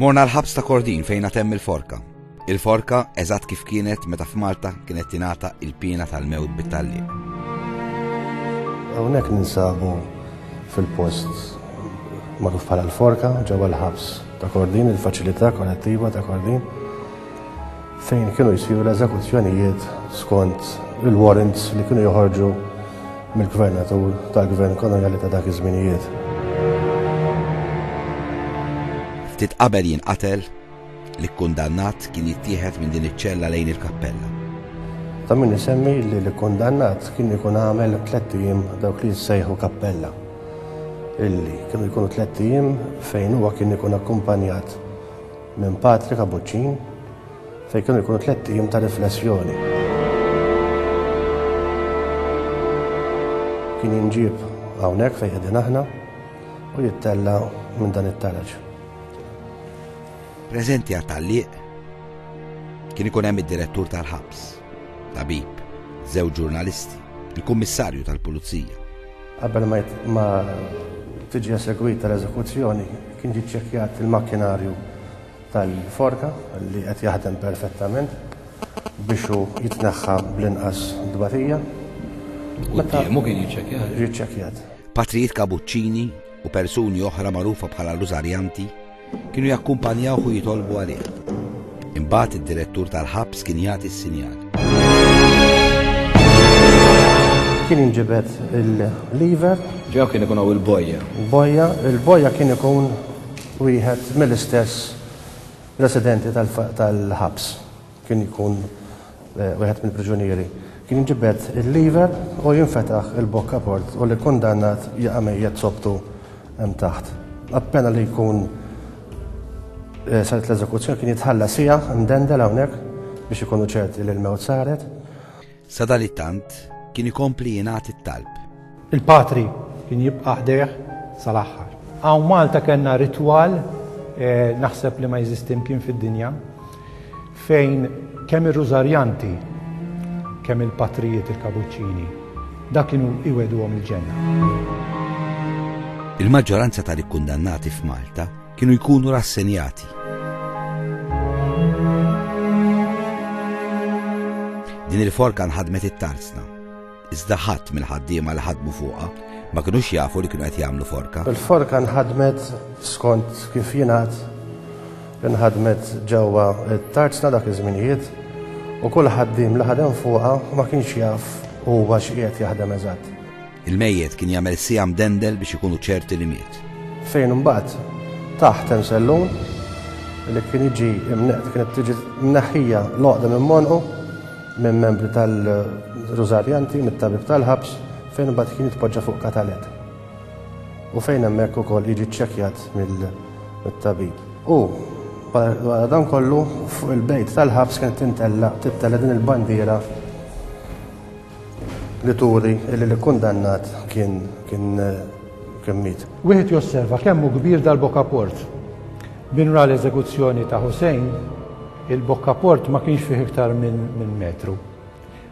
Morna l-ħabs ta' Kordin fejn għatem il-forka. Il-forka eżatt kif kienet meta f'Malta kienet tingħata il-pina tal-mewt bit-talli. Hawnhekk ninsabu fil-post magħruf bħala l-forka ġewwa l-ħabs ta' Kordin, il-faċilità kollettiva ta' Kordin. fejn kienu jsiru l-eżekuzzjonijiet skont il-warrants li kienu joħorġu mill-gvernatur tal-gvern koloniali ta' dak iż-żminijiet. Ftit qabel jinqatel, l-ikkundannat kien jittieħed minn din iċ-ċella lejn il-kappella. Ta' min isemmi li l-ikkundannat kien ikun għamel tliet ijiem dawk li jissejħu kappella. Illi kienu jkunu tliet ijiem fejn huwa kien ikun akkumpanjat minn Patri Kapuċċin fejn kienu jkunu tlett ijiem ta' riflessjoni. Kien jinġieb hawnhekk fejn qegħdin aħna u jittella minn dan it-taraġ. Preżenti għat-tagħliq kien ikun hemm id-direttur tal-ħabs, tabib, żewġ ġurnalisti, il-kummissarju tal-pulizija, Qabel ma tiġi esegwita l-eżekuzzjoni kien ġie ċċekkjat il-makkinarju tal-forka li qed jaħdem perfettament biex hu jitneħħa bl-inqas dbatija. Quddiemu kien jiċċekkjat. Jiċċekkjat. Patrijiet Kabuċċini u persuni oħra magħrufa bħala Rużarjanti Kienu jakkumpanjawh u jitolbu għalih. Imbagħad id-direttur tal-ħabs kien jagħti s-sinjal. Kien jinġibed il-lever. Ġew kien ikun hawn il-bojja. Bojja, il-bojja kien ikun wieħed mill-istess residenti tal-ħabs. kien ikun wieħed mill-priġunieri, kien jinġibed il-lever u jinfetaħ il-bokka port u l-ikkundannat jaqa' mejjet sopptu hemm taħt. Appena li jkun eh, saret l-eżekuzzjoni kien jitħalla siegħa mdendel hawnhekk biex ikunu ċerti li l-mewt saret. Sadalittant, kien ikompli jingħad it-talb. Il-Patri kien jibqa' ħdejh sal-aħħar. Hawn Malta kellna ritwal, naħseb li ma jeżisti mkien fid-dinja, fejn kemm ir-Rużarjanti, kemm il-Patrijiet il-Kabuċċini, dak kienu jwegħduhom il-ġenna. Il-maġġoranza tal-ikkundannati f'Malta, kienu jkunu rassenjati. Din il-forka nħadmet it-tarzna. Iżda ħadd mill-ħaddiema li ħadmu fuqha ma kinux jafu li kienu qed jagħmlu forka. Il-forka nħadmet skont kif jingħad nħadmet ġewwa t-tarzna dak iż-żminijiet u kull ħaddiem li ħadem fuqha ma kienx jaf huwa x'qiegħed jaħdem eżatt. Il-mejjet kien jagħmel siegħa mdendel biex ikunu ċerti li miet. Fejn imbagħad taħt hemm sellun li kien jiġi imneqt, kienet tiġi mneħħija l-għoqda minn monqu minn membri tal-Rużarjanti, mit-tabib tal-ħabs, fejn imbagħad kien jitpoġġa fuq katalet. U fejn hemmhekk ukoll jiġi ċċekkjat mill-tabib. U wara dan kollu fuq il-bejt tal-ħabs kienet tintella tittella din il-bandiera li turi li l-ikkundannat kien kien kien miet. Wieħed josserva kemm hu kbir dal-bokkaport. Min ra l-eżekuzzjoni ta' Hussein, il-bokkaport ma kienx fih iktar minn minn metru.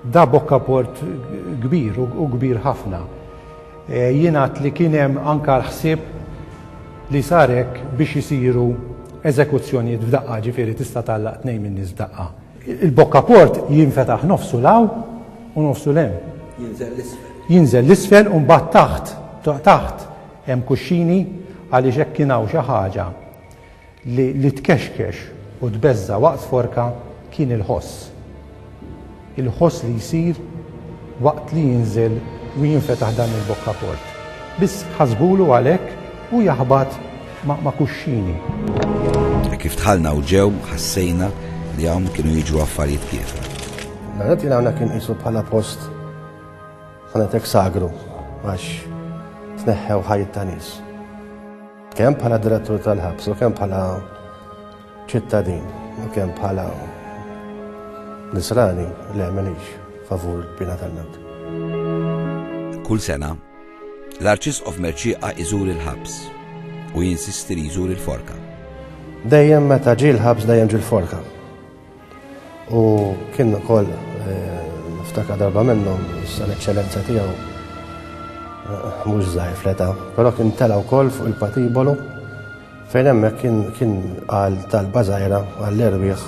Da bokkaport kbir u kbir ħafna. Jingħad li kien hemm anke l-ħsieb li sar hekk biex isiru eżekuzzjonijiet f'daqqa, ġifieri tista' tgħallaq tnejn min-nies f'daqqa. Il-bokka port jinfetaħ nofsu 'l hawn u nofsu 'l hemm. Jinżel 'l isfel. Jinżel 'l isfel u mbagħad taħt, taħt hemm kuxxini għaliex hekk kien hawn xi ħaġa li li tkexkex u tbeżża' waqt forka kien il-ħoss. Il-ħoss li jsir waqt li jinżel u jinfetaħ dan il-bokka port. Biss ħasbulu għalhekk u jaħbat ma' kuxxini. Hekk kif dħalna u ġew, ħassejna li hawn kienu jiġru affarijiet kiefra. L-għana tiegħi hawnhekk inqisu bħala post ħanetek sagru għax tneħħew ħajt ta' nies. Kemm bħala direttur tal-ħabs u kemm bħala ċittadin u kemm bħala nisrani li għamenix favur bina tal-mewt. Kull sena L-Arċisqof Mercieqa jżur il-ħabs u jinsisti li jżur il-forka. Dejjem meta ġie l-ħabs dejjem ġie l-forka. U kien ukoll eh, niftakar darba minnhom sal eċċellenza tiegħu eh, mhux żgħir fleta, però kien tela wkoll fuq il-patibolu fejn hemmhekk kien qal tal-bażajra għall-erwieħ